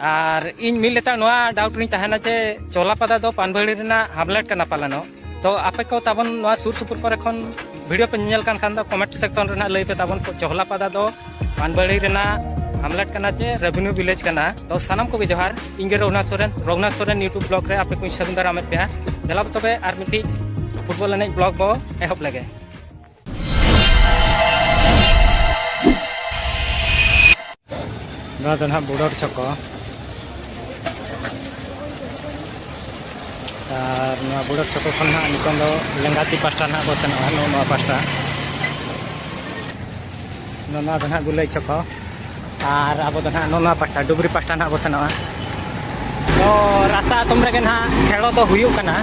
ᱟᱨ ᱤᱧ ᱢᱤᱫ ᱞᱮᱛᱟᱲ ᱱᱚᱣᱟ ᱰᱟᱣᱩᱴ ᱨᱤᱧ ᱛᱟᱦᱮᱱᱟ ᱡᱮ ᱪᱚᱞᱟᱯᱟᱫᱟ ᱫᱚ ᱯᱟᱱᱵᱷᱟᱹᱲᱤ ᱨᱮᱱᱟᱜ ᱦᱟᱢᱞᱮᱴ ᱠᱟᱱᱟ ᱯᱟᱞᱮᱱᱚᱜ ᱛᱚ ᱟᱯᱮ ᱠᱚ ᱛᱟᱵᱚᱱ ᱱᱚᱣᱟ ᱥᱩᱨ ᱥᱩᱯᱩᱨ ᱠᱚᱨᱮ ᱠᱷᱚᱱ ᱵᱷᱤᱰᱤᱭᱳ ᱯᱮ ᱧᱮᱞ ᱠᱟᱱ ᱠᱷᱟᱱ ᱫᱚ ᱠᱚᱢᱮᱱᱴ ᱥᱮᱠᱥᱚᱱ ᱨᱮᱱᱟᱜ ᱞᱟᱹᱭ ᱯᱮ ᱛᱟᱵᱚᱱ ᱪᱚᱦᱞᱟᱯᱟᱫᱟ ᱫᱚ ᱯᱟᱱᱵᱷᱟᱹᱲᱤ ᱨᱮᱱᱟᱜ ᱦᱟᱢᱞᱮᱴ ᱠᱟᱱᱟ ᱪᱮ ᱨᱮᱵᱷᱮᱱᱤᱭᱩ ᱵᱷᱤᱞᱮᱡᱽ ᱠᱟᱱᱟ ᱛᱚ ᱥᱟᱱᱟᱢ ᱠᱚᱜᱮ ᱡᱚᱦᱟᱨ ᱤᱧ ᱜᱮ ᱨᱚᱜᱷᱩᱱᱟᱛᱷ ᱥᱚᱨᱮᱱ ᱨᱚᱜᱷᱩᱱᱟᱛᱷ ᱥᱚᱨᱮᱱ ᱤᱭᱩᱴᱩᱵᱽ ᱵᱞᱚᱜ ᱨᱮ ᱟᱯᱮ ᱠᱚᱧ ᱥᱟᱹᱜᱩᱱ ᱫᱟᱨᱟᱢᱮᱫ ᱯᱮᱭᱟ ᱫᱮᱞᱟ ᱛᱚᱵᱮ ᱟᱨ ᱢᱤᱫᱴᱤᱡ ᱯᱷᱩᱴᱵᱚᱞ ᱮᱱᱮᱡ ᱵᱞᱚᱜ ᱵᱚ ᱮᱦᱚᱵ ᱞᱮᱜᱮ ᱱᱚᱣᱟ ᱫᱚ ᱱᱟᱦᱟᱜ ᱵᱩᱰᱚᱨ ᱪᱚᱠᱚ ᱟᱨ ᱱᱚᱣᱟ ᱵᱩᱰᱚᱨ ᱪᱚᱠᱚ ᱠᱷᱚᱱ ᱱᱟᱦᱟᱜ ᱱᱤᱛᱚᱝ ᱫᱚ ᱞᱮᱸᱜᱟᱛᱤ ᱯᱟᱥᱴᱟ ᱱᱟᱦᱟᱜ ᱠᱚ ᱥᱮᱱᱚᱜᱼᱟ ᱱᱚᱣᱟ ᱯᱟᱥᱴᱟ ᱱᱚᱣᱟ ᱫᱚ ᱱᱟᱦᱟᱜ ᱜᱩᱞᱟᱹᱭ ᱪᱚᱠᱚ ᱟᱨ ᱟᱵᱚ ᱫᱚ ᱱᱟᱦᱟᱜ ᱱᱚᱣᱟ ᱯᱟᱦᱴᱟ ᱰᱩᱵᱽᱨᱤ ᱯᱟᱦᱴᱟ ᱱᱟᱦᱟᱜ ᱵᱚ ᱥᱮᱱᱚᱜᱼᱟ ᱛᱚ ᱨᱟᱥᱛᱟ ᱟᱛᱚᱢ ᱨᱮᱜᱮ ᱱᱟᱦᱟᱜ ᱠᱷᱮᱞᱳ ᱫᱚ ᱦᱩᱭᱩᱜ ᱠᱟᱱᱟ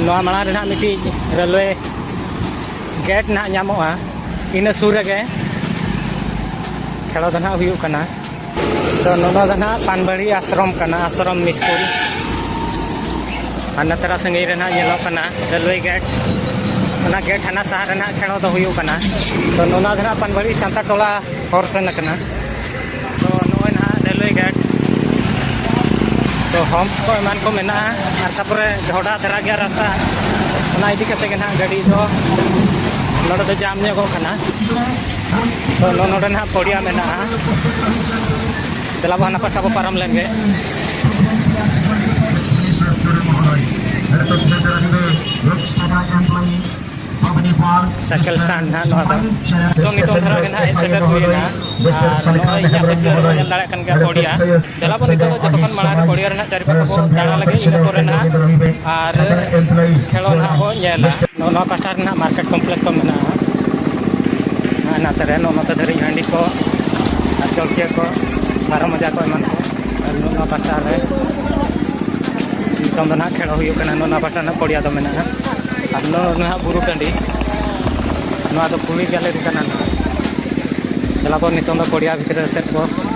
ᱱᱚᱣᱟ ᱢᱟᱲᱟᱝ ᱨᱮ ᱱᱟᱦᱟᱜ ᱢᱤᱫᱴᱤᱡ ᱨᱮᱞᱣᱮ ᱜᱮᱴ ᱱᱟᱦᱟᱜ ᱧᱟᱢᱚᱜᱼᱟ ᱤᱱᱟᱹ ᱥᱩᱨ ᱨᱮᱜᱮ ᱠᱷᱮᱞᱳ ᱫᱚ ᱱᱟᱦᱟᱜ ᱦᱩᱭᱩᱜ ᱠᱟᱱᱟ ᱛᱚ ᱱᱚᱣᱟ ᱫᱚ ᱱᱟᱦᱟᱜ ᱯᱟᱱᱵᱟᱲᱤ ᱟᱥᱨᱚᱢ ᱠᱟᱱᱟ ᱟᱥᱨᱚᱢ ᱥᱠᱩᱞ ᱟᱨ ᱱᱚᱛᱮᱨᱟ ᱥᱟᱺᱜᱤᱧ ᱨᱮ ᱱᱟᱦᱟᱜ ᱧᱮᱞᱚᱜ ᱠᱟᱱᱟ ᱨᱮᱞᱣᱮ ᱜᱮᱴ ᱚᱱᱟ ᱜᱮᱴ ᱦᱟᱱᱟ ᱥᱟᱦᱟ ᱨᱮ ᱱᱟᱦᱟᱜ ᱴᱷᱮᱲᱚ ᱫᱚ ᱦᱩᱭᱩᱜ ᱠᱟᱱᱟ ᱛᱚ ᱱᱚᱣᱟ ᱫᱚ ᱱᱟᱦᱟᱜ ᱯᱟᱱᱵᱟᱲᱤ ᱥᱟᱱᱛᱟ ᱴᱚᱞᱟ ᱦᱚᱨ ᱥᱮᱱ ᱠᱟᱱᱟ ᱛᱚ ᱱᱚᱜᱼᱚᱭ ᱱᱟᱦᱟᱜ ᱨᱮᱞᱣᱮ ᱜᱮᱴ ᱛᱚ ᱦᱚᱢᱥ ᱠᱚ ᱮᱢᱟᱱ ᱠᱚ ᱢᱮᱱᱟᱜᱼᱟ ᱟᱨ ᱛᱟᱯᱚᱨᱮ ᱰᱷᱚᱰᱟ ᱫᱷᱟᱨᱟ ᱜᱮᱭᱟ ᱨᱟᱥᱛᱟ ᱚᱱᱟ ᱤᱫᱤ ᱠᱟᱛᱮ ᱜᱮ ᱱᱟᱦᱟᱜ ᱜᱟᱹᱰᱤ ᱫᱚ ᱱᱚᱰᱮ ᱫᱚ ᱡᱟᱢ ᱧᱚᱜᱚᱜ ᱠᱟᱱᱟ ᱛᱚ ᱱᱚᱰᱮ ᱱᱟᱦᱟᱜ ᱯᱚᱲᱤᱭᱟ ᱢᱮᱱᱟᱜᱼᱟ ᱫᱮᱞᱟ ᱵᱚ ᱦᱟᱱᱟ ᱯᱟᱥᱴᱟ ᱵᱚ ᱯᱟᱨᱚᱢ ᱞᱮᱱ ᱜᱮ ᱥᱟᱭᱠᱮᱞ ᱥᱴᱟᱱᱰ ᱱᱟᱦᱟᱜ ᱱᱚᱣᱟ ᱫᱚ ᱛᱚ ᱱᱤᱛᱚᱝ ᱫᱷᱟᱨᱟ ᱜᱮ ᱱᱟᱦᱟᱜ ᱦᱮᱡ ᱥᱮᱴᱮᱨ ᱦᱩᱭᱱᱟ ᱟᱨ ᱱᱚᱜᱼᱚᱭ ᱤᱧᱟᱹᱜ ᱯᱟᱹᱪᱞᱟᱹ ᱨᱮᱵᱚᱱ ᱧᱮᱞ ᱫᱟᱲᱮᱭᱟᱜ ᱠᱟᱱ ᱜᱮᱭᱟ ᱯᱚᱲᱤᱭᱟ ᱫᱮᱞᱟ ᱵᱚᱱ ᱱᱤᱛᱚᱜ ᱫᱚ ᱡᱚᱛᱚ ᱠᱷᱚᱱ ᱢᱟᱲᱟᱝ ᱨᱮ ᱯᱚᱲᱭᱟ ᱨᱮᱱᱟᱜ ᱪᱟᱨᱤ ᱯᱟᱥᱮ ᱵᱚ ᱫᱟᱬᱟ ᱞᱮᱜᱮ ᱤᱱᱟᱹ ᱯᱚᱨᱮ ᱱᱟᱦᱟᱜ ᱟᱨ ᱠᱷᱮᱞᱳᱰ ᱱᱟᱦᱟᱜ ᱵᱚᱱ ᱧᱮᱞᱟ ᱱᱚᱜᱼᱚ ᱱᱚᱣᱟ ᱯᱟᱥᱴᱟ ᱨᱮ ᱱᱟᱦᱟᱜ ᱢᱟᱨᱠᱮᱴ ᱠᱚᱢᱯᱞᱮᱠᱥ ᱠᱚ ᱢᱮᱱᱟᱜᱼᱟ ᱦᱟᱸᱜ ᱱᱟᱛᱮ ᱨᱮ ᱱᱚᱜᱼᱚ ᱱᱚᱛᱮ ᱫᱷᱟᱹᱨᱤᱡ ᱦᱟᱺᱰᱤ ᱠᱚ ᱟᱨ ᱪᱚᱲᱪᱤᱭᱟᱹ ᱠᱚ ᱵᱟᱨᱚ ᱢᱚᱡᱟ ᱠᱚ ᱮᱢᱟᱱ ᱠᱚ ᱟᱨ ᱱᱚᱜᱼᱚ ᱱᱚᱣᱟ ᱯᱟᱥᱴᱟ ᱨᱮ ᱱᱤᱛᱚᱝ ᱫᱚ ᱱᱟᱦᱟᱜ ᱠᱷᱮᱞᱳ ᱦᱩᱭᱩᱜ ᱠᱟᱱᱟ ᱱᱚᱜᱼᱚ ᱱᱚᱣᱟ ᱯᱟᱥᱴᱟ ᱨᱮᱱᱟᱜ ᱯᱚᱲᱭᱟ ᱫᱚ ᱢᱮᱱᱟᱜᱼᱟ ᱟᱨ ᱱᱚᱜᱼᱚ ᱱᱟᱦᱟᱜ ᱵᱩᱨᱩ ᱴᱟᱺᱰᱤ ᱱᱚᱣᱟ ᱫᱚ ᱠᱩᱲᱤ ᱜᱮᱞᱟᱨᱤ ᱠᱟᱱᱟ ᱱᱟᱦᱟᱜ ᱫᱮᱞᱟ ᱵᱚᱱ ᱱᱤᱛᱚᱝ ᱫᱚ ᱯᱚᱲᱭᱟ ᱵᱷᱤᱛᱨᱤ ᱥᱮᱫ ᱵᱚ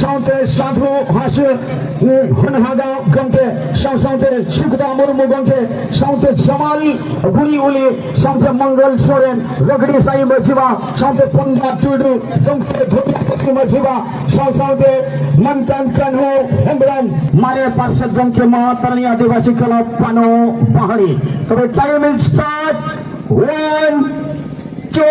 ᱥᱟᱶᱛᱮ ᱥᱟᱫᱷᱩ ᱦᱟᱥᱩ ᱦᱚᱱᱦᱟᱜᱟ ᱜᱚᱢᱠᱮ ᱥᱟᱶ ᱥᱟᱶᱛᱮ ᱥᱩᱠᱫᱟ ᱢᱩᱨᱢᱩ ᱜᱚᱢᱠᱮ ᱥᱟᱶᱛᱮ ᱡᱟᱢᱟᱞ ᱜᱩᱲᱤ ᱩᱞᱤ ᱥᱟᱶᱛᱮ ᱢᱚᱝᱜᱚᱞ ᱥᱚᱨᱮᱱ ᱨᱚᱜᱲᱤ ᱥᱟᱭ ᱢᱟᱹᱡᱷᱤᱵᱟ ᱥᱟᱶᱛᱮ ᱯᱚᱱᱰᱟ ᱴᱩᱰᱩ ᱜᱚᱢᱠᱮ ᱫᱷᱚᱨᱢᱚᱯᱚᱛᱤ ᱢᱟᱹᱡᱷᱤᱵᱟ ᱥᱟᱶ ᱥᱟᱶᱛᱮ ᱢᱟᱱᱛᱟᱱ ᱠᱟᱱᱦᱩ ᱦᱮᱢᱵᱨᱚᱢ ᱢᱟᱨᱮ ᱯᱟᱨᱥᱮᱫ ᱜᱚᱢᱠᱮ ᱢᱚᱦᱟᱛᱟᱨᱟᱱᱤ ᱟᱹᱫᱤᱵᱟᱹᱥᱤ ᱠᱞᱟᱵᱽ ᱯᱟᱱᱚ ᱯᱟᱦᱟᱲᱤ ᱛᱚᱵᱮ time is start one two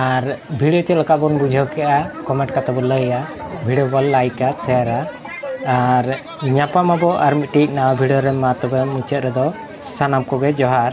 ᱟᱨ ᱵᱷᱤᱰᱤᱭᱳ ᱪᱮᱫ ᱞᱮᱠᱟ ᱵᱚᱱ ᱵᱩᱡᱷᱟᱹᱣ ᱠᱮᱜᱼᱟ ᱠᱚᱢᱮᱱᱴ ᱠᱟᱛᱮᱫ ᱵᱚᱱ ᱞᱟᱹᱭᱟ ᱵᱷᱤᱰᱤᱭᱳ ᱵᱚᱱ ᱞᱟᱭᱤᱠᱟ ᱥᱮᱭᱟᱨᱟ ᱟᱨ ᱧᱟᱯᱟᱢ ᱟᱵᱚ ᱟᱨ ᱢᱤᱫᱴᱤᱡ ᱱᱟᱣᱟ ᱵᱷᱤᱰᱤᱭᱳ ᱨᱮ ᱢᱟ ᱛᱚᱵᱮ ᱢᱩᱪᱟᱹᱫ ᱨᱮᱫᱚ ᱥᱟᱱᱟᱢ ᱠᱚᱜᱮ ᱡᱚᱦᱟᱨ